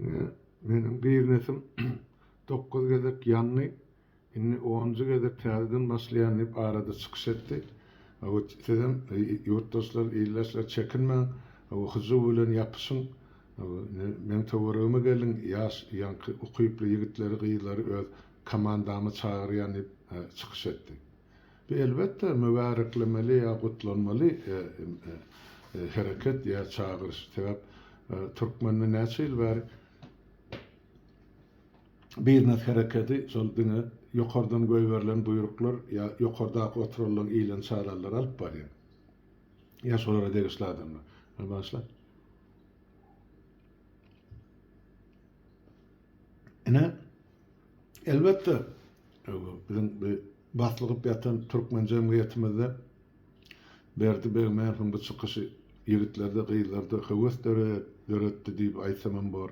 Indi meniň biznesim dokuz gezek ýandy, indi onunjy gezek täzeden başlaýan diýip arada çykyş etdi. Hawa, sizem ýurtdaşlar, ildeşler çekinmäň, hawa, hyjuw bilen ýapyşyň, hawa, meň töweregime geliň, ýaş, ýaňky ukyply ýigitleri, gyzlary öz komandama çagyrýan diýip çykyş etdi. Bu elbetde mübäreklemeli ýa gutlanmaly hereket ýa çagyryş. Sebäp türkmende näçe ýyl bäri biznes herekedi şol diňe ýokardan goýberilen buýruklar ýa ýokardaky oturylan iýilen çaýlalary alyp barýar. Ýa şolara degişli adamlar. Meni bagyşla. Ine Elbetde, biziň bu baslygyp ýatan türkmen jemgyýetimizde Berdi Begmäniň bu çykyşy ýigitlerde, gyzlarda höwes döretdi diýip aýtsamam bor.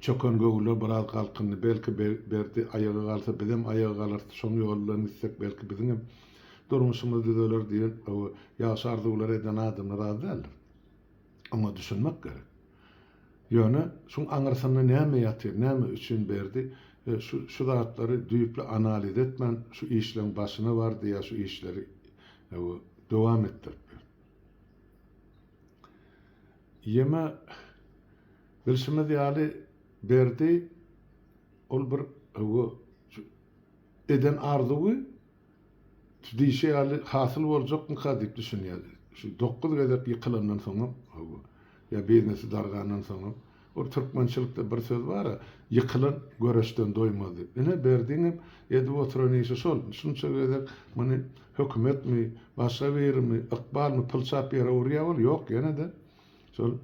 Çöken göwüller biraz galkyndy. Belki, Berdi aýaga galsa, bizem aýaga galarys, şoň ýoly bilen gitsek, belki, biziňem durmuşymyz düzeler diýen ýagşy arzuwlary eden adamlar az däldir. Oňa düşünmek gerek. Ýöne şuň aňyrsynda näme ýatyr, näme üçin Berdi şu zatlary düýpli analiz etmän şu işleň başyna bardy ýa şu işleri dowam etdirip berdi. Ýeme bilşimiz ýaly Berdi ol bir eden arzuwy, Şu diýşi ýaly hasyl boljakmyka diýip düşünýädi. Şu dokuz gezek ýykylandan soňam, hawa, ýa beýnisi dargandan soňam, ol türkmençilikde bir söz bar-a, Ýykylan göreçden doýmaz diýip. Ine, Berdiňem edip oturan işi şol. Şunça gezek muny hökümetmi, başga birimi, ykbalmy pylçap ýere urýar ol, ýok, ýene-de şol.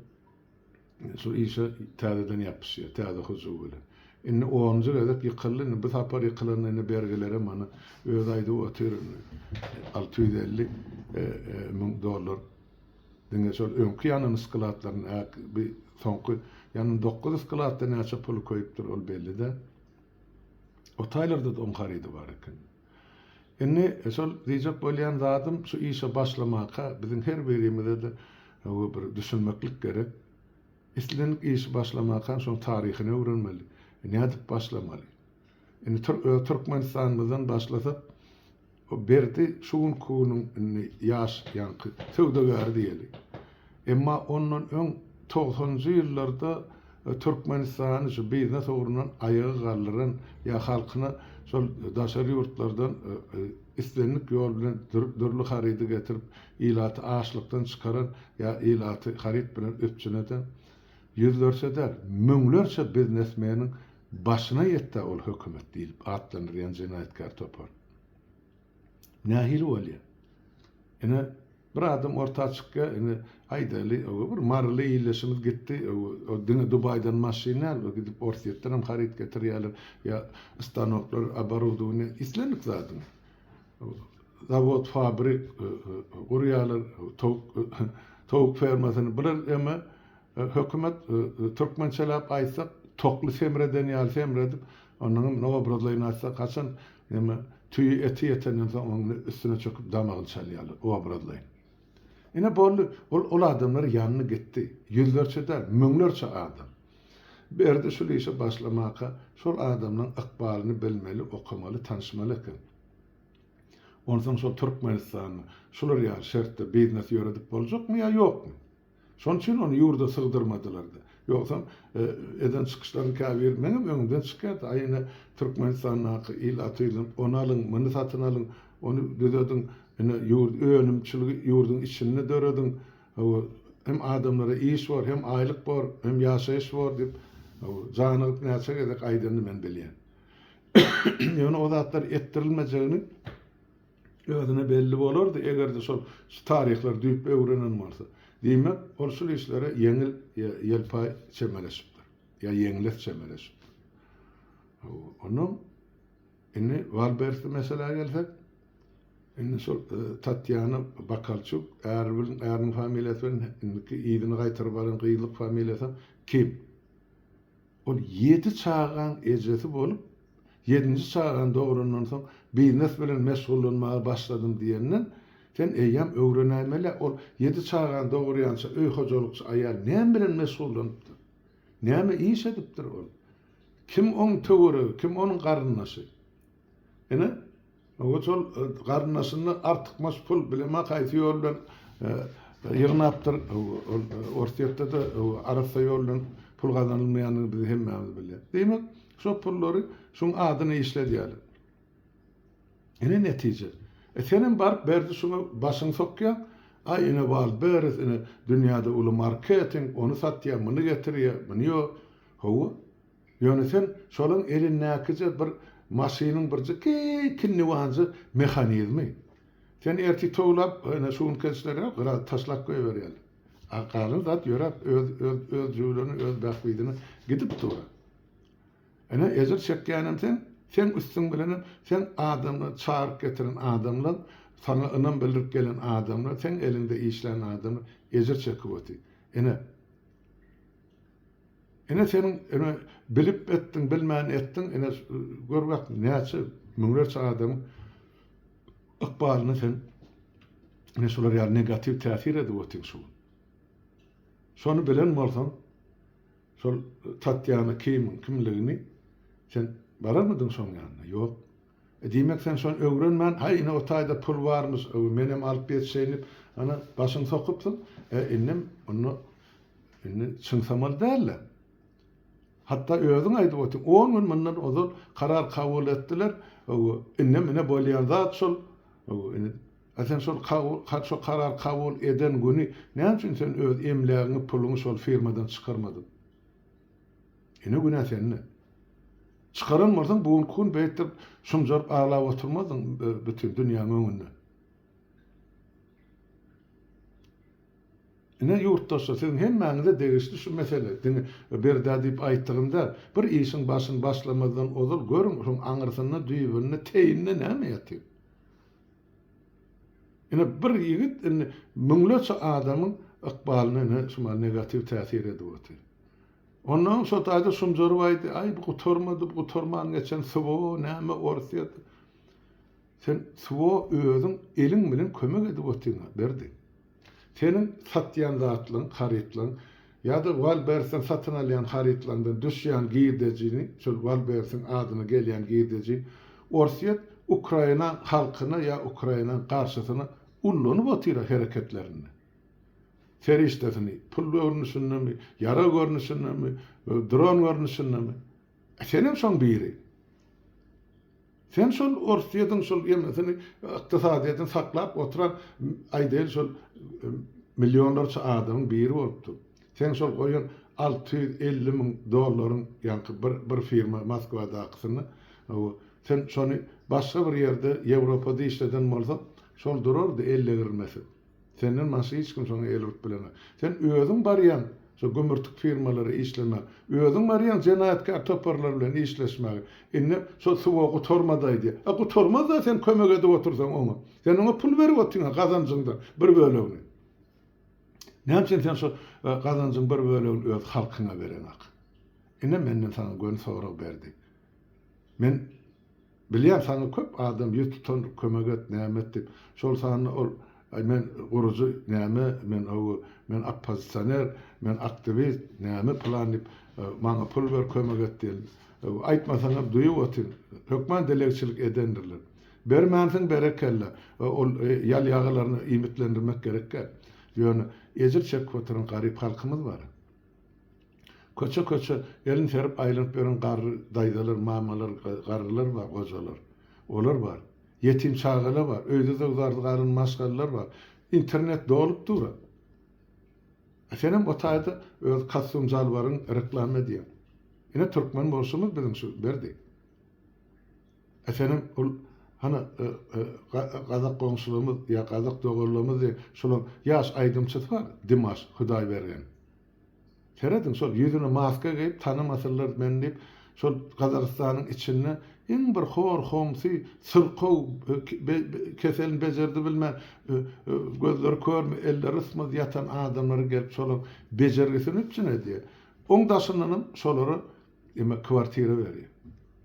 Şu işe täzeden ýapyşýar, täze hyjuw bilen. Indi onunjy gezek ýykyldy, indi bu sapar ýykylanda indi bergilerem ony özi aýdyp otyr, indi alty ýüz elli müň dollar diňe şol öňki ýanyny skladlaryny, ä, bi, soňky ýanyny dokuz skladda näçe puly köýüpdir, ol belli däl. Otaylarda-da oň harydy bar eken. Indi şol diýjek bolýan zadym şu işe başlamaka biziň her birimize-de bir düşünmeklik gerek. Islendik işi başlamaka şoň taryhyny öwrenmeli. Nädip başlamaly? Indi öz Türkmenistanymyzdan başlasak Berdi şu günki günüň indi ýaş ýaňky söwdagäri diýeli. Emma ondan öň togsanjy ýyllarda Türkmenistany şu biznes ugrundan aýaga galdyran ýa halkyna şol daşary ýurtlardan islendik ýol bilen dürli harydy getirip ilaty açlykdan çykaran ýa ilaty haryt bilen üpjün eden ýüzlerçe däl müňlerçe biznesmeniň başyna ýetdä ol hökümet diýlip atlandyrýan jenaýatkär topar nähili bolýa ine Bir adam orta çykýar, indi aýdaýly, ow, bir maryly illeşimiz gitdi, ow, o diňe Dubaýdan maşyn däl, o gidip Orsýetdenem haryt getirýärler, ýa stanoklar, oborudowaniýa, islendik zadyň, ow, zawod, fabrik, ow, gurýarlar, ow, towuk, ow, towuk fermasyny, bular eme, ow, hökümet, ow, ow, türkmençeläp aýtsak, tokly semreden ýaly semredip, onuňam, no, obrazlaýyn aýtsak, haçan Emma tüýi eti ýetenden soň onuň üstüne çöküp damagyny çalýarlar, obrazlaýyn. Ine, boldy. Ol ol adamlar ýanyna gitdi. Ýüzlerçe däl, müňlerçe adam. Berdi şul işe başlamaka şol adamlaryň ykbalyny bilmeli, okamaly, tanyşmaly eken. Onsoň şol Türkmenistanda şular ýaly şertde biznes ýöredip boljakmy ýa ýokmy? Şonuň üçin ony ýurda sygdyrmadylar-da. Ýogsam, eden çykyşlaryň käbiri meňem öňümden çykýardy, Aý, ine, Türkmenistandaky il atylyp, ony alyň, muny satyn alyň, ony düzediň, ine, ýurt, önümçiligi ýurduň içinde dörediň, hawa, hem adamlara iş bor, hem aýlyk bor, hem ýaşaýyş bor diýip, hawa, janygyp näçe gezek aýdanyny men bilýän. Ýöne o zatlar etdirilmejegini. Özüne belli bolardy, eger-de şol şu taryhlary düýpli öwrenen bolsa. Diýmek, ol şul işlere ýeňil, ýa ýelpaý çemeleşipdir, ýa ýeňles çemeleşipdir. Hawa, onnoň indi Walbersli meseläge gelsek, indi şol Tatýana Bakalçuk, äri bilen, äriniň familiýasy bilen indiki yzyna gaýtaryp alan gyzlyk familiýasam Kim. Ol ýedi çagaň ejesi bolup, ýedinji çagany dograndan soň biznes bilen meşgullanmaga başladym diýenden, sen eýýäm öwrenäýmel-ä, ol ýedi çagany dogurýança öý hojalykçy aýal näme bilen meşgullanypdyr? Näme iş edipdir ol? Kim oň töweregi, kim onuň garyndaşy? Ine, oňa şol garyndaşynda artykmaç pul bilema haýsy ýol bilen ýygnapdyr. Orsýetde-de arassa ýol bilen pul gazanylmaýandygyny biz hemmämiz bilýäs. Diýmek, şo pullary şuň adyna işledýärler. Ine netije. E senem baryp berdi şuňa başyňy sokýaň. Aý ine Waldberes ine dünýäde uly marketing, ony satýar, muny getirýär, muny ýo. Hawa, Ýöne sen şolaň elindäkije bir maşynyň birje kinniwanjy mehanizmi. Sen ertir towlap, ýöne şu günki işlerine gyra taşlap goýberýäň. A galan zat ýöräp öz öz jüwleni, öz bähbidine gidip dur. Ine ejir çekýänem sen, seň üstüň bilenem seň adamlary çagyryp getiren adamlar, saňa ynam bildirip gelen adamlar, seň eliňde işlän adamlar ejir çekip otyr. Ine. Ine seniň ine bilip etdiň bilmän etdiň ine gör bak näçe müňlerçe adamyň ykbalyna sen ine şular ýaly negatiw täsir edip otyň şu gün. Şony bilen bolsaň şol Tatýana kimiň kimligini sen bararmydyň şoň ýanyna ýok. Diýmek sen şony öwrenmän, haý ine o taýda pul barmyş, menem alyp geçeýin diýip, ana, başyňy sokypsyň. E, indem, onda, indi çyňsamaly däl-le. Hatda özüň aýdyp otyň, on gün mundan ozal karar kabul etdiler, indem ine bolýan zat şol. Ine, a sen şol şo karar kabul eden güni näme üçin sen öz emlägiňi, puluňy şol firmadan çykarmadyň? Ine günä sende. Çykaran bolsaň bu günki gün beýtdip şumjaryp aglap oturmazdyň bütin dünýäň öňünde. Ine ýurtdaşlar siziň hemmäňize degişli şu mesele diňe birdä diýip aýtdygym däl. Bir işiň başyny başlamazdan ozal görüň şoň aňyrsynda düýbünde teýinde näme ýatyr. Ine bir ýigit indi müňlerçe adamyň ykbalyna ine şumal negatiw täsir edip otyr. Onnoň şo taýda şumjaryp aýdy, Aý bu gutarmady, bu gutarman geçen swo, näme Orsýet. Sen swo özüň eliň bilen kömek edip otyrňa Berdi. Seniň satýan zatlaryň, harytlaryň ýa-da Wallbersden satyn alýan harytlaryňdan düşýän girdejini, şol Wallbersiň adyna gelýän girdeji Orsýet Ukraina halkyna ýa Ukraina garşysyna ullanyp otyr-a hereketlerinde. Serişdesini pul görnüşindemi, ýarag görnüşindemi, dron görnüşindemi. Senem şoň biri. Sen şol Orsýediň şol ýeňňesini ykdysadyýetini saklap oturan aýdaýyl şol millionlarça adamyň biri bolupdyň. Seň şol goýan alty ýüz elli müň dollaryň ýaňky bir bir firma Moskwadakysyny hawa sen şony başga bir ýerde Ýewropada işleden bolsaň şol durardy ellegirilmesiz. Senden başga hiç kim şoňa el urup bilenok. Sen özüň barýaň şo gümürtik firmalara işlemäge. Özüň barýaň jenaýatkär toparlar bilen işleşmäge. Indi şo suwa gutarmadaý diýýä. A gutarmaz-da sen kömek edip otursaň oňa. Sen oňa pul berip otyryn-a gazanjyňdan bir bölegini. Näme üçin sen şo gazanjyň bir bölegini öz halkyňa bereňok? Ine menden saňa göni sorag Berdi. Men Bilýän saňa köp adam ýüz tutan kömek et näme et diýip şol sanda ol aý men gurujy näme men ow men oppozisioner men aktiwist näme plan diýip maňa pul ber kömek et diýen ow aýtmasaňam duýup otyryn hökman dilegçilik edendirler bermänsiň berekella ol ýalýagalaryny iýmitlendirmek gerek däl ýöne ejir çekip oturan garyp halkymyz bar. Köçe-köçe elini serip aýlanyp ýören garry daýzalar, mamalar, garrylar bar, gojalar. Olar bar. Ýetim çagalar bar. Öýde zöwzardy galan maşgalalar bar. Internet dolup dur-a. A senem o taýda öz kostum-jalbaryň reklama edýäň. Ine türkmen bolşumyz biziň şu Berdi. A senem ol hany gazak goňşularymyz ýa gazak doganlarymyz diýen şolaň ýaş aýdymçysy bar Dimaş Hudaýbergen. Serediň şol ýüzüne maska geýip tanamasynlar meni diýip şol Gazagystanyň içinde iň bir hor homsy syrkaw keselini bejerdi bilmän gözleri körmi elleri ysmaz ýatan adamlary gelip şolaň bejergisini üpjün edýär. Oň daşyndanam şolara kwartira berýär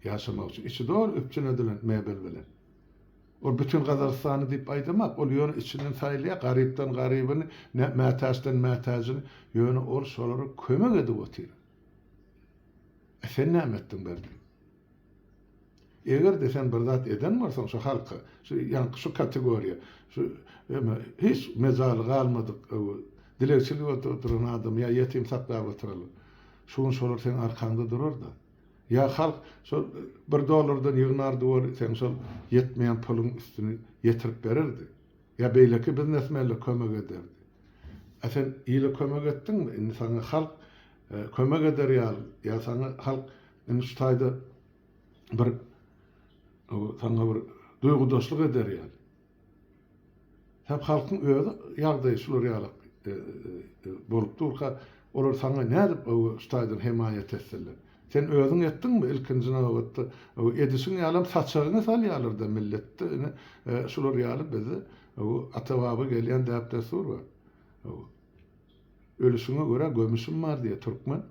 ýaşamak üçin içi doly üpjün edilen mebel bilen. Ol bütin Gazagystany diýip aýdamak, ol ýöne içinden saýlaýar, garypdan garybyny, mätäçden mätäjini, ýöne ol şolara kömek edip otyr. E sen näme etdiň Berdi? Eger-de sen bir zat eden bolsaň şu halka, şu ýaňky şu kategoriýa, şu eme hiç mejaly galmadyk dilegçilik edip oturan adamy ýa ýetim saklap oturanlar, şu gün şolar seň arkaňda durar-da. Ýa halk şol bir dollardan ýygnardy we seň şol ýetmeýän puluň üstüni ýetirip bererdi. Ýa beýleki biznesmenler kömek ederdi. A sen ile kömek etdiňmi? Indi saňa halk kömek eder ýaly, ýa saňa halk indi şu taýda bir saňa bir duýgudaşlyk eder ýaly. Hep halkyň özi ýagdaýy şular ýaly bolup durka, olar saňa nädip öwüşdaýdan hemaýat etsinler? Sen özüň etdiňmi? Ilkinji nobatda, edişiň ýalam saçagyňy salýarlar-da milletde, ine, şular ýaly bizde ata-baba gelýän däp-dessur bar. Ölüşiňe görä gömüşim bar diýýär türkmen.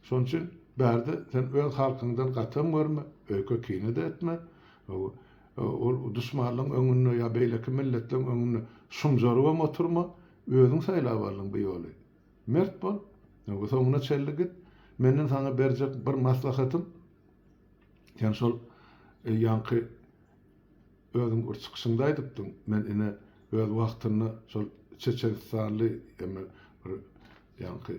Şonuň üçin Berdi sen öz halkyňdan gatam görme, öýke kine-de etme. Ol duşmanlaryň öňünde ýa beýleki milletleriň öňünde şumjarybam oturma. Özüň saýlap aldyň bu ýoly. Mert bol. Soňuna çenli git. Menden saňa berjek bir maslahatym, sen şol ýaňky Özüň bir çykyşyňda aýdypdyň, men ine öz wagtynda şol çeçenistanly eme bir ýaňky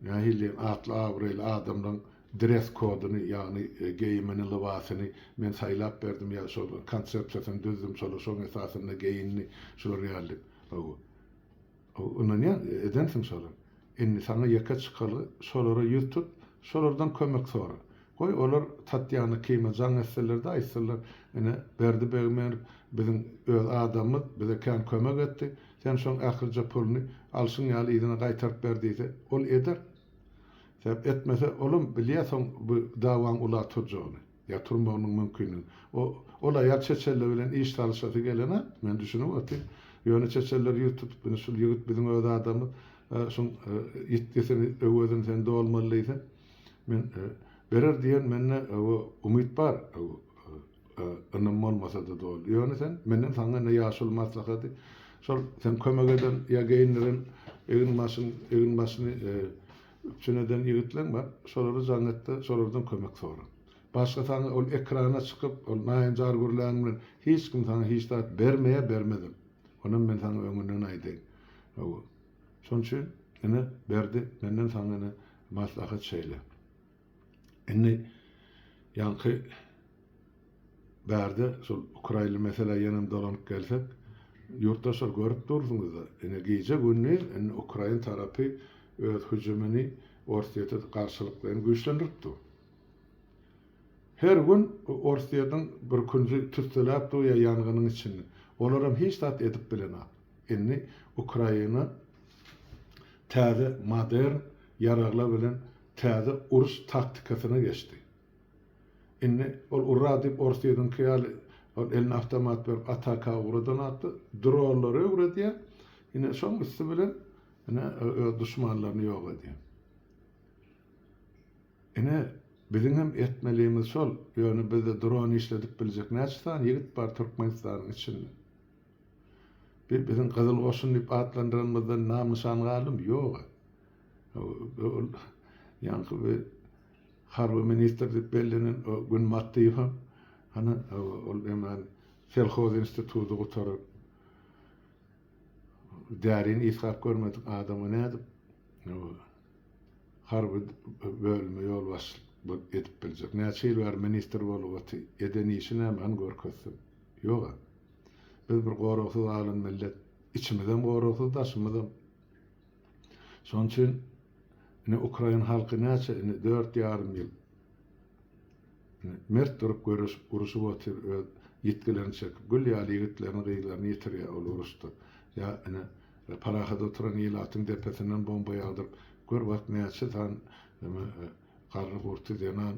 nähili diýen atly abraýly adamlaň dress kodyny ýagny geýimini lybasyny men saýlap berdim ýa şol bir konsepsiýasyny düzdüm şolar şoň esasynda geýindi şular ýaly diýip hawa Ynanýan edensiň şolar. Indi saňa ýeke çykalga şolara ýüz tut, şolardan kömek sora. Goý, olar Tatýana kime jaň etseler-de aýtsalar, Ine, Berdi Begmerow biziň öz adamymyz, bize kän kömek etdi. Sen şoň ählice puluny alşyň ýaly yzyna gaýtaryp ber diýse, ol eder. Sebäp etmese, olam bilýär soň bu dawaň ula turjagyny. Ýa turmagynyň mümkinligi. O, ol aýal çeçeller bilen iş salyşasy gelene, men düşünip otyryn. Ýöne çeçeller ýüz tutup, indi şul ýigit biziň öz adamymyz, şuň ýitgisini, öwezini sen dolmaly diýse, men berer diýen mende umyt bar, ynam bolmasa-da doly. Ýöne sen, menden saňa ine ýaşuly maslahady, şol sen kömek eden ýa geýindiren egin-başyň, egin-başyny, Üpjün eden ýigitleň bar, şolara jaň et-de, şolardan kömek sora. Başga saňa ol ekrana çykyp, ol naýynjar gürlän bilen hiç kim saňa hiç zat bermeýär, bermezem. Onam men saňa öňünden aýdaýyn. Hawa. Şonuň üçin, ine, Berdi, menden saňa ine maslahat şeýle. Indi ýaňky Bärde şol ukrainli meselä ýenem dolanyp gelsek, ýurtdaşlar görüp dursuňyzda, ine gije-gündiz indi ukrain tarapy öz hüjümini Orsýete garşylyklaýyn güýçlendirip dur. Her gün Orsýetiň bir künji tüsseläp dur ýa ýangynyň içinde. Olaram hiç zat edip bilenok. Indi Ukraina täze modern ýaraglar bilen täze uruş taktikasyna geçdi. Indi ol urra diýip ors ýeriňki ýaly ol eline awtomat berip ataka ugradan atly dronlary öwredýär. Ine şoň üsti bilen ine öz duşmanlaryny ýok edýär. Ine biziň hem etmelimiz şol. Ýöne bizde dron işledip biljek näçe sany ýigit bar Türkmenistanyň içinde? Bir biziň gyzyl goşun diýip atlandyranymyzdan nam-nyşan galdymy? Ýog-a. Ol ýaňky bir Harby ministr diýip bellenen Gün Matdyýewa, hany, ol hemen selhoz institudy gutaran därini ysgap görmedik adama nädip harby bölüme ýolbaşçylyk edip biljek? Näçe ýyl bäri ministr bolup otyr? Eden işi näme? Hany görkezsin. Ýog-a. Biz bir goragsyz alyn millet. Içimizem goragsyz, daşymyzam. Şonuň üçin indi ukrain halky näçe indi dört ýarym ýyl mert durup göreşip uruşyp otyr öz ýitgilerini çekip gül ýaly ýigitlerini gyzlaryny ýitirýär ol uruşda ýa indi parahat oturan ilatyň depesinden bomba ýagdyryp gör wah näçe san garry gurty zenan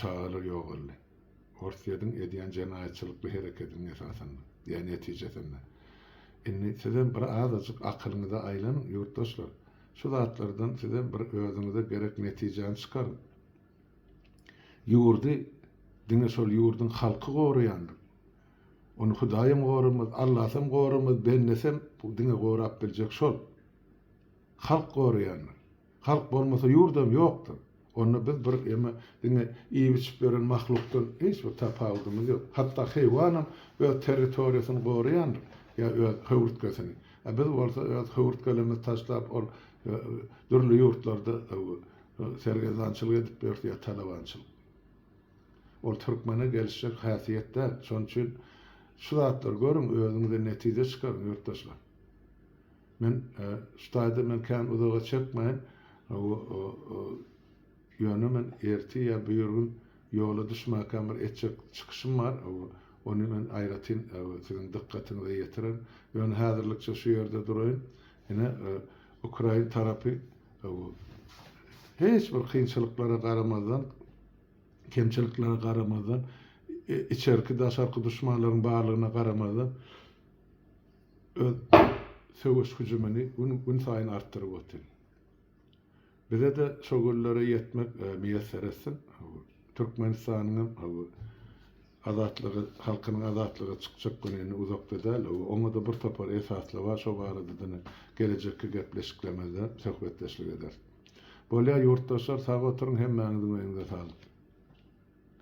çagalar ýogaldy. Orsýediň edýän jenaýatçylykly hereketiniň esasynda, ýa netijesinde. Indi sizem bir azajyk akylyňyza aýlanyň, ýurtdaşlar. Şu zatlardan sizem bir özüňize gerek netijäni çykaryň. Ýurdy diňe şol ýurduň halky goraýandyr. Ony Hudaýam goramaz, Allasam goramaz, bendesem diňe gorap biljek şol. Halk goraýandyr. Halk bolmasa ýurdam ýokdyr. Onda biz bir eme diňe iýip-içip ýören mahlukdan hiç bir tapawudymyz ýok. Hatda heýwanam öz territoriýasyny goraýandyr ýa öz höwürtgesini. A biz bolsa öz höwürtgelerimizi taşlap ol dürli ýurtlarda sergezdançylyk edip ýörüs ýa talabançylyk. Ol türkmene gelişjek häsiýet däl. Şonuň üçin şu zatlary görüň, özüňize netije çykaryň ýurtdaşlar. Men şu taýda men kän uzaga çekmeýin. Ýöne men ertir ýa birigün ýola düşmäkäm bir etjek çykyşym bar. Ony men aýratyn siziň dykgatyňyza ýetirerin. Ýöne häzirlikçe şu ýerde duraýyn. Ine, ukrain tarapy hiç bir kynçylyklara garamazdan, kemçiliklere garamazdan, içerki-daşarky duşmanlaryň barlygyna garamazdan, öz söweş hüjümini gün-günsaýyn artdyryp otyr. Bize-de şo günlere ýetmek miýesser etsin. Türkmenistanyňam azatlygy, halkynyň azatlyga çykjak güni indi uzakda däl. Oňa-da bir topar esaslar bar, şo barada-da ine, gelejekki gepleşiklerimizde söhbetdeşlik ederis. Bolýar, ýurtdaşlar, sag oturyň, hemmäňiziň öýüňize saglyk!